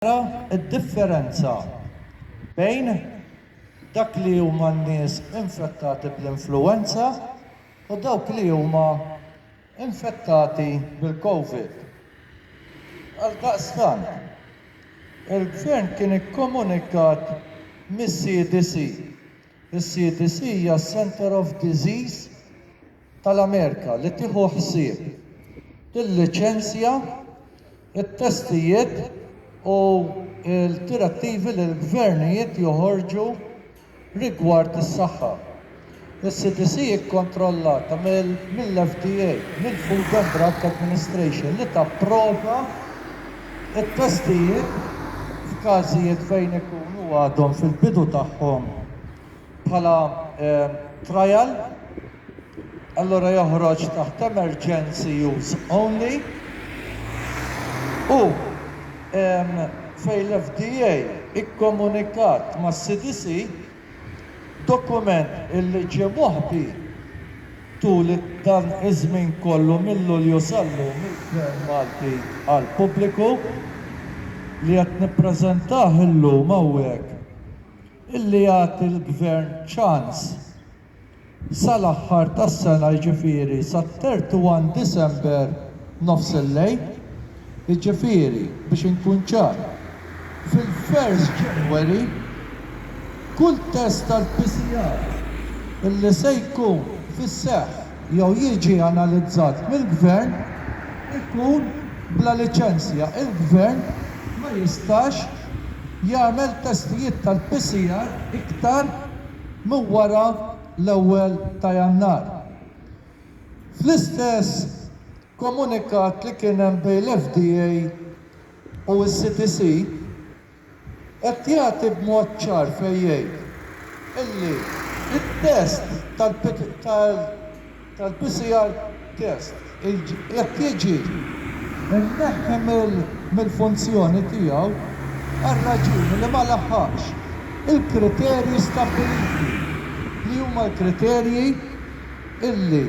Ara d-differenza bejn dak li huma n-nies infettati bl-influwenza u dawk li huma infettati bil-Covid. Għaldaqstant, il-Gvern kien ikkomunikat mis-CDC Is-CDC hija s-Center of Disease tal-Amerika li tieħu ħsieb, tilliċenzja, it-testijiet u l-direttivi li l-gvernijiet joħorġu rigward is-saħħa. Is-CDC hi kkontrollata mill-FDA, mill-Food and Drug Administration, li tapprova, It-testijiet, f'każijiet fejn ikunu għadhom fil-bidu tagħhom bħala trial, allura joħroġ taħt emergency use only u fejn l-FDA kkomunikat mas-CDC, Dokument illi ġie moħbi tul dan iż-żmien kollu minn Lulju sal-lum mill-Gvern Malti għall-pubbliku, li qed nippreżentah illum hawnhekk, illi jagħti l-Gvern ċans, sal-aħħar tas-sena jiġifieri sat-31 Disember nofs il-lejl, jiġifieri biex inkun ċar, fil-first January kull test tal-PCR li se jkun fis-seħħ jew jiġi analizzat mill-Gvern ikun bla liċenzja, il-Gvern ma jistax jagħmel testijiet tal-PCR iktar minn wara l-ewwel ta' Jannar. Fl-istess komunikat li kien hemm bejn l-FDA u s-CDC qed jagħti b'mod ċar fejn jgħid illi t-test tal-PCR test, jekk jiġi mneħħi mill-funzjoni tiegħu għar-raġuni li ma laħħaqx il-kriterji stabbiliti, li huma l-kriterji li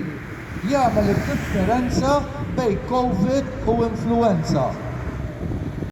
jagħmel id-differenza bejn Covid u influwenza.